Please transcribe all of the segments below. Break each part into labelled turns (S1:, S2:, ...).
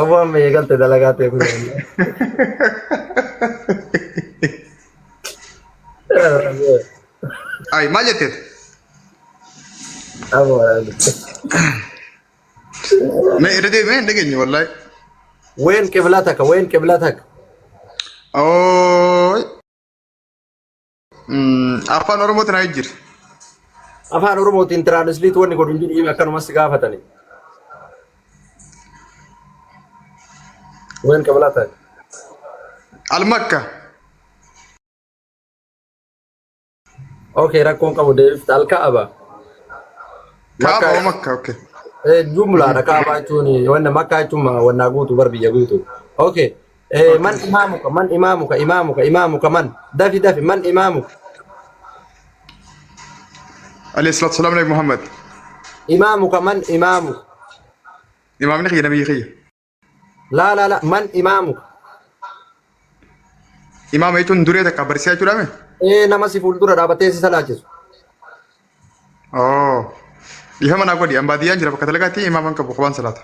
S1: Aboo amma eegalte dalagaa ta'e kun yaadne.
S2: Ay maal jetteet? Aboo
S1: waraabde.
S2: Mee irra deebi'ee hin dhageenye wallaahi. Ween
S1: qibla takka ween qibla takka. Ooy
S2: Afaan Oromootiin haa jijjiiri.
S1: Afaan Oromootiin tiraanisliit wanni godhu hin jiru himi akkanumas si gaafatani. Ween qabalaa taate.
S2: Almakka.
S1: Okay rakkoon qabu deebifta alkaaba. Kaaba Makkaa-
S2: makka okay. Eh, jumlaadha
S1: kaabaa jechuun wanna makkaa jechuun ma- wannaa guutu bar biyya guutu. Okay Eh, man Okay. imaamuka, man imaamuka, imaamuka, imaamuka, man. Dafi, dafi, man imaamuka.
S2: Alayhi salaatu salaam Nabi Muhammad. Imaamuka,
S1: man imaamuka.
S2: Imaamni kiyya nabiyyi kiyya. Laa,
S1: laa, laa, man imaamuka.
S2: Imaama jechuun duree takka barsiisaa jechuudha mee? Eh, nama si fuuldura
S1: dhaabatee si salaachisu. Oh.
S2: Dhiifama naa godhi. An baadiyyaan jira bakka dalagaatti imaaman qabu qubaan salaata.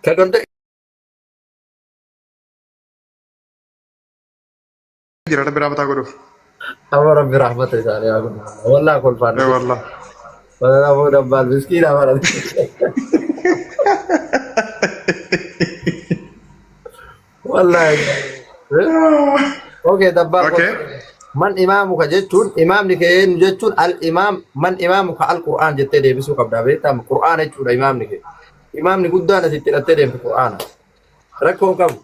S1: Ka danda
S2: Jira rabbi raamataa godhuuf. amma rabbi
S1: rahmata isaanii haa godhu. Wallaa kolfaan Ee wallah.
S2: Banana boo
S1: dabbaan miskiina baran. Wallahi. Okay, dabbaa Okay. man
S2: imaamu
S1: ka jechuun imaamni kee eenyu jechuun al imaam man imaamu ka al qur'aan jettee deebisuu qabda beektaa qur'aan jechuudha imaamni kee imaamni guddaan ati itti hidhattee deemtu qur'aana rakkoo hin qabu.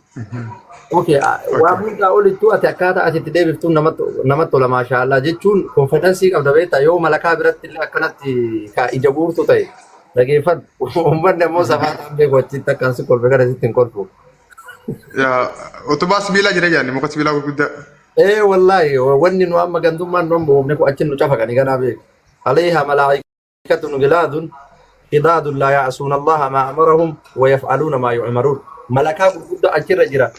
S1: Okay, ah, waan Okay. hundaa olittuu ati akkaataa ati itti deebiftuun namatti namatti tola maashaallah jechuun konfidensii qabda beektaa yoo malakaa biratti illee akkanatti ka ija guurtu ta'e dhageeffadhu uummanni ammoo safaa ta'an beeku achitti akkaan si kolfe kana sitti hin kolfu. Yaa
S2: utubaa sibiilaa jira jaanni muka sibiilaa gurguddaa. Ee wallaahi
S1: wanni nu amma gandummaan nu amma uumne kun achi nu cafaqani ganaa beeku. Alayha malaa'ikatun gilaadun shidaadun laa ya'asuun allaha maa amarahum wa yaf'aluuna maa yu'maruun. Malakaa gurguddaa achirra jira.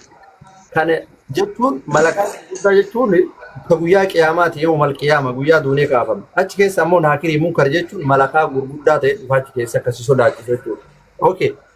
S1: Kana jechuun malakaa gurguddaa jechuun ka guyyaa qiyaamaati yoo mal qiyaama guyyaa duunee kaafame. Achi keessa ammoo naakirii munkar jechuun malakaa gurguddaa ta'e dhufa achi keessa akkasi sodaachisu jechuudha. Okay.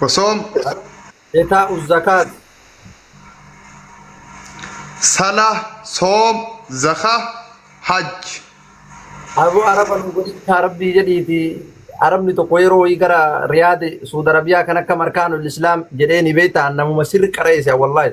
S2: Osoom
S1: Etaa'u zakaat.
S2: sala soom zaka hajj.
S1: Aboo araba nu godhichaa rabbii jedhiiti arabni tokko yeroo wayii gara riyaadi suud arabiyaa kan akka markaanul islaam jedhee ni beekta namuma sirri qareessa wallaahi.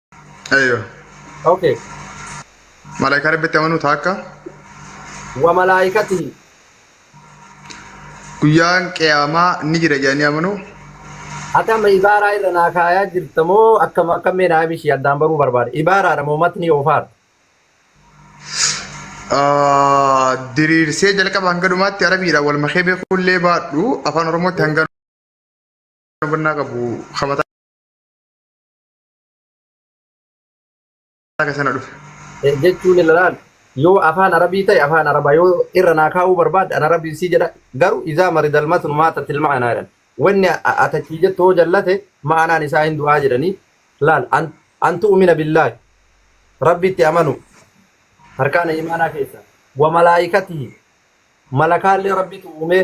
S2: Ayyo. Okay. Malaayikaa rabbitti amanuu taakka Wa malaa'ikatihi. guyyaan qiyaamaa ni jira jedhanii amanuu. Akkam
S1: ibaaraa irra naa kaayaa jirta moo akkam akkam mee naa bishii addaan baruu barbaada. Ibaaraadha moo matni oofaadha. Ah,
S2: Diriirsee jalqaba hanga dhumaatti arabiidhaan wal makee beekullee baadhu afaan oromootti hanga hubannaa qabu hamataa Akka sana dhufe. jechuun ilalaan
S1: yoo afaan arabii ta'e afaan arabaa yoo irra naa kaa'uu barbaadde an arabii sii jedha garuu izaa maridal matnu maata tilma'anaa jedhan wanni atachii jettu hoo jallate ma'anaan isaa hin du'aa jedhanii laal an- an tu'umina billaahi rabbitti amanu harkaana imaanaa keessa wa malaayikatihi malakaallee rabbitu uumee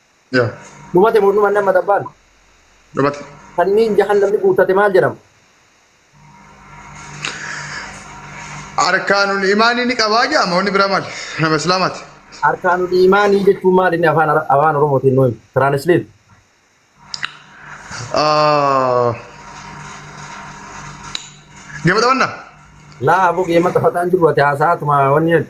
S1: Yaa.
S2: Dhumate moo dhumanne
S1: amma xabbaan? Dhumate.
S2: Sanniin
S1: jahannamni guuttate maal jedhama?
S2: Arkaanul imaanii ni qabaa jedhama wanni biraa maali? Nama islaamaati. Arkaanul
S1: imaanii jechuun maal inni afaan Ara- afaan Oromootiin nuyi tiraanisleet. Ah.
S2: Gama xabannaa? Laa aboo
S1: geema taphataan jiru ati haasa'aatuma wanni jedhu.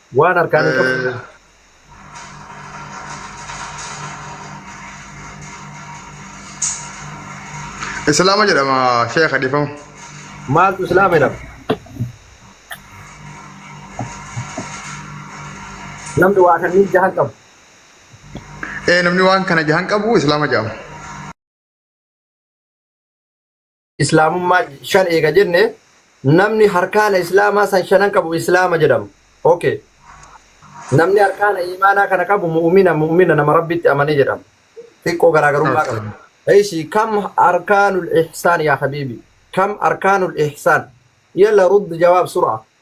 S1: Waan harkaan hin qabne. Eh,
S2: Islaama jedhama sheekha dhiifama. Maaltu
S1: islaama jedhama? Namni waa kanniin jahan qabu.
S2: Eh, Namni waan kana jahan qabu islaama jedhama.
S1: Islaamummaa shan eega jenne namni harkaana Islaamaa san shanan qabu Islaama jedhama. Okay. Namni harkaana iimaanaa kana qabu mu'umina mu'umina nama Rabbitti amane jedhama. Xiqqoo garaagarummaa qaba. Eeshi kam arkaanul ihsaan yaa habiibi kam arkaanul ihsaan yalla rudd jawaab sur'a.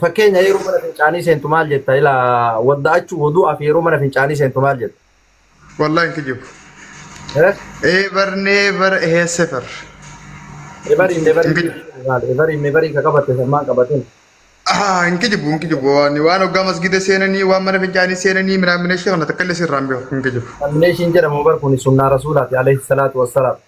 S1: Fakkeenya yeroo mana fincaanii seentu maal jetta? Ila wadda'achuu wudu'aa fi yeroo mana fincaanii seentu maal jetta? Wallahi hin
S2: kijibu. Eh? Eebar neebar eheesefar. Ebarii mebarii Hin kijibu.
S1: maal? Ebarii mebarii ka qabatte san maan qabatin? Ah, hin
S2: kijibu hin kijibu waan waan hoggaa masgida seenanii waan mana fincaanii seenanii minaaminashii kana takka illee sirraan beeku hin kijibu. Amineeshiin jedhamu bar
S1: kun sunnaa rasuulaati alayhi salaatu wassalaam.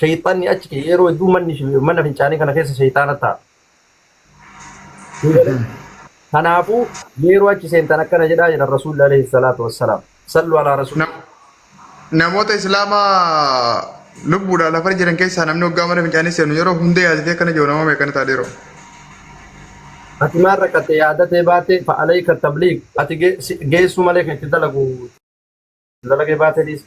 S1: shayxanni achi kee yeroo hedduu manni shi- mana fincaanii kana keessa shayxaana ta'a. Kanaafuu yeroo achi seentan akkana jedhaa jedhan rasuulli alayhi salaatu wassalaam. Sallu alaa rasuul. Nam- namoota
S2: islaamaa lubbuudhaan lafar jiran keessaa namni waggaa mana fincaanii seenu yeroo hunda yaadatee akkana jiru nama meeqana ta'a dhiiroo.
S1: Ati maal rakkatte yaadatee baate fa'alayka tabliig ati ge- si- geessuu malee kan itti dalagu dalagee baate dhiisa.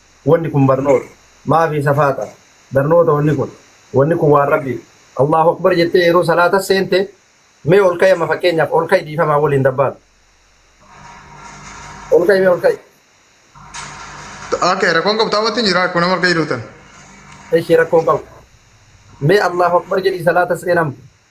S1: Wanni kun barnoota. Maafii safaata. Barnoota wanni kun. Wanni kun waan Rabbiif. Allaahu Akbar jettee yeroo salaata seente mee ol ka'i amma fakkeenyaaf ol ka'i dhiifamaa waliin dabbaal. Ol ka'i mee ol ka'i.
S2: Okay, rakkoon qabtaa wanti jira akkuma nama argaa jiruutan. Eshi rakkoon
S1: qabu. Mee Allaahu Akbar jedhii salaata seenamu.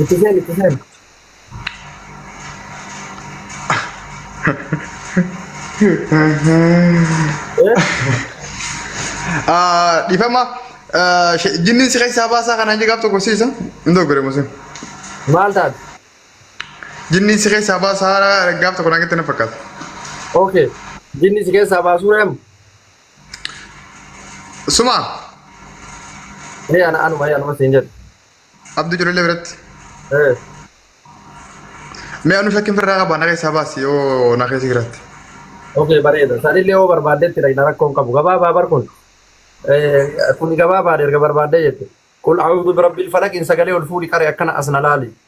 S1: Itti seeni, itti seeni.
S2: Ah, Dhifama ah, she- jinniin si keessaa baasaa kanaan jedhaaf tokko siisa. Hin doggore musin. Maal taate? Jinniin si keessaa baasaa gaaf tokko naan jettee na fakkaata. Okay.
S1: Jinni si keessaa baasuu reemu.
S2: Suma Ee ana
S1: anuma ee anuma siin jedhe. Abduu Jollee
S2: biratti. Ee Mee anu shakkiin firraa qaba na keessaa baasi yoo na keessa jiraatti. okay bareeda
S1: sanillee yoo barbaaddetti dhaqna rakkoon qabu gabaabaa bar kun. Ee kun gabaabaa erga barbaaddee jette. Qul a'uudhu birabbil falaqiin sagalee ol fuudhi qare akkana as na laali.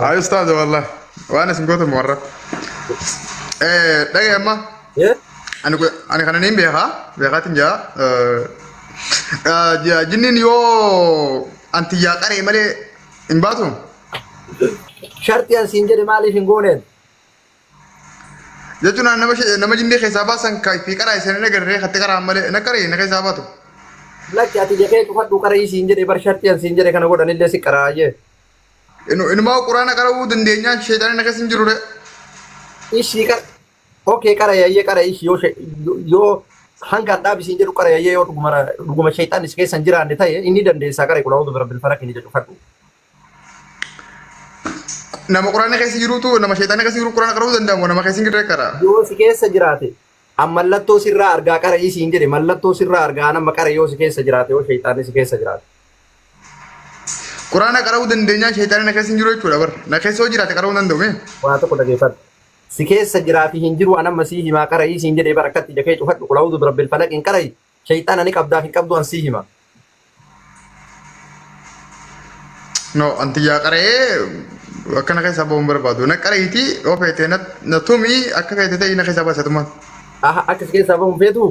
S2: Haa ustaaza wallah waan isin gootan warra. Dhagee amma Eh?
S1: ani ku- ani
S2: kana niin beekaa beekaatiin jaa jinniin yoo antiyyaa qaree malee hin baatu
S1: Sharxii an siin jedhe maaliif hin gooneen?
S2: jechuun ani nama shi- nama jinnii keessaa baasan ka fi qaraa isin hin agarree katti qaraan malee na qaree na keessaa baatu. Lakki
S1: ati jekee cufadhu qara'ii siin jedhe bar sharxii an siin jedhe kana godhanillee si qaraayyee. Inu-
S2: Inumaa quraana qara'uu dandeenyaan sheexaanii na keessa hin jirure.
S1: Ishii qara. Okay qara yayyee qara ishii yoo she- yoo- yoo hanga adhaa bisiin jedhu qara yayyee yoo dhuguma dhuguma sheexaan is keessa hin jiraanne ta'e inni dandeessaa qara qulaa utuu rabbil falaq inni jedhu fadhu.
S2: Nama quraana keessa jirutu nama sheexaanii keessa jiru quraana qara'uu danda'amu nama keessa hin jirre qara. Yoo si keessa jiraate
S1: An mallattoo sirraa argaa qara'ii siin jedhe mallattoo sirraa argaa an amma qara'i yoo si keessa jiraate yoo shayxaanni si keessa jiraate. Quraana
S2: qara'uu dandeenyaa shayxaanni na keessa hin jiru jechuudha bar. Na keessa yoo jiraate qara'uu danda'u mee? Waa tokko dhageeffadhu.
S1: Si keessa jiraafi hin jiru an amma sii himaa qara'ii siin jedhe bar akkatti ija kee cufadhu qul a'uuzu birabbil falaqiin qara'i Sheyxaana ni qabdaaf hin qabdu an sii hima.
S2: No, anti yaa qara'ee akkana keessa ba'uun barbaadu. Na qara'iiti yoo feete na na tumi akka feete ta'e na keessa baasa tumaan. Aha akka si
S1: keessaa bahu hin feetuu?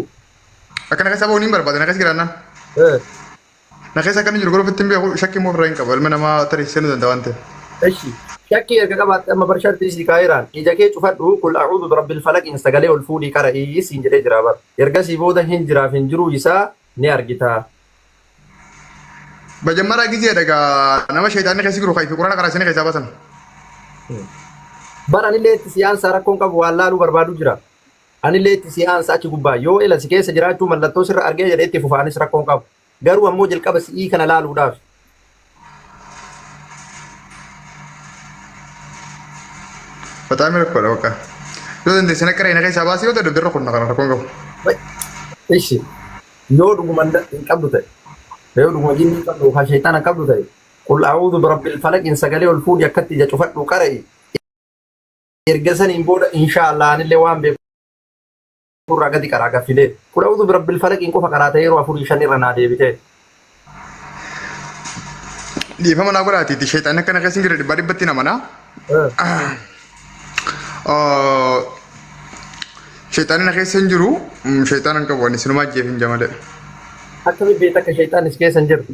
S1: Akkana keessa
S2: ba'uun hin barbaada na keessa jiraannaan. Eh. Na keessa akkan jiru garuu ofitti hin beeku shakki immoo ofirraa hin qabu ilma namaa tarii seenuu danda'a waan ta'eef. Eshi. Shakkii
S1: erga qabaatte amma bar sharxii sii kaa'eeraan ija kee cufadhu qul a'uudu birabbil falaqiin sagalee ol fuudhii qara'ii siin jedhee jira bar. Ergasii booda hin jiraaf hin jiruu isaa ni argita.
S2: Bajammaraa gizee dhagaa nama sheexaanni keessa jiru kaifi quraana qaraasanii keessaa baasan.
S1: Bar anillee itti siyaansaa rakkoon qabu waan laaluu barbaadu jira. Anillee itti si aansa achi gubbaa. Yoo ila si keessa jiraachuu mallattoo sirra argee jedhe itti fufa anis rakkoo hin qabu. Garuu ammoo jalqaba si'ii kana laaluudhaafi.
S2: Faxaami rakkoodha bakka. Yoo dandeesse na qiree na keessaa baasii yoo dadhabde irra kunna kana rakkoo hin qabu. Ishi
S1: yoo dhuguma hin qabdu ta'e yoo dhuguma jinni hin qabdu yookaan shayxaana hin qabdu ta'e qul a'uudhu birabbil falaqiin sagalee ol fuudhi akkatti ija cufadhu qara'i Erga saniin booda inshaa Allah anillee waan beeku irraa gadi qaraa gaffilee. Qul a'uuzu birabbil falaqiin qofa qaraatee yeroo afurii shan irra naa deebitee.
S2: Dhiifama naa godhaatiiti sheexanni akkana keessa hin jirre dhibbaa dhibbatti hin amanaa. Sheexanni na keessa hin jiru sheexana hin qabu ani sinumaa ajjeefin jamalee. Akkamitti
S1: beekta akka sheexaannis keessa hin jirtu?